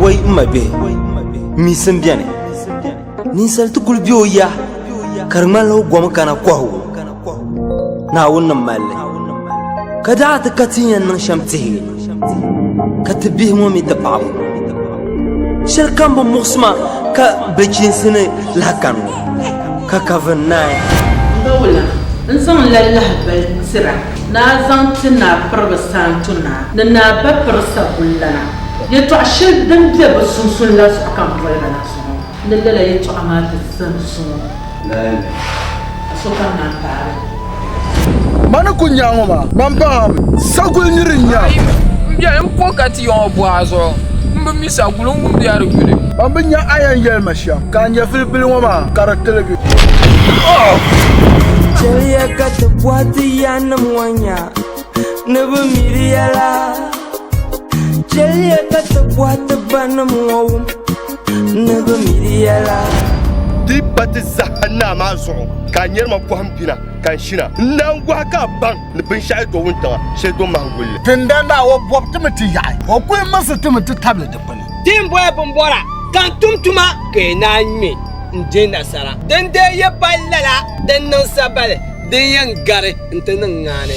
Wai n ma bihi misi n bɛni ninsali ti kuli bɛ o ya ka di ŋmanila o gom kana kɔhu naawuni ni malli ka daa ti ka ti yɛn niŋ shɛm tihi ka ti bihi ŋɔ mi ti paɣabu shɛli kam bi muɣisima ka bichiinsi ni lahakan ŋɔ ka kavin naai n zaŋla lahabali tira Naa zaŋ ti Naa Piriba Saanto Naa ni Naa Bapiri Sagullana yɛtɔɣ shɛli din be bɛ sunsuuni la zuɣu ka m boli ba la zuɣu ni lala yɛtɔɣa maa ti zani zuŋɔ. Naa mi ka sokam naan paagi li. Ma ni ku nya ŋɔ maa, gba m-paŋ a mi. Saguli nir n-nya. Ayi mi m-beni m-po ka ti ya ŋɔ buɣa zuɣu, m bi mi saguli n-wumdi ya di yuli. Ban bi nya a yɛn yɛli ma shɛm. Ka n nyɛ filipili ŋɔ maa ka di tiligi. Chɛliya ka ti bɔhi ti yanim ŋɔ nya ni bi miri yɛla. Chɛliya ka ti bɔhi ti banim ŋɔ wum ni bi miri yɛla. Di pa ti zaha naa maa zuɣu ka a nyari ma pɔhim bina ka n shina. N naangohi ka a baŋ. ni binshɛɣu do wuntaŋa shɛli do mahim guli li. Tinda Naawɔ bɔbi ti mi ti yaɣi, o kul mirisi ti mi ti tabili di kpini. Di ni boli bimbɔra ka n tum tuma, ka yi naan ŋme n-di nasara, di ni dee yi pali lala din niŋ sabali din yɛn gari nti niŋ ŋaani.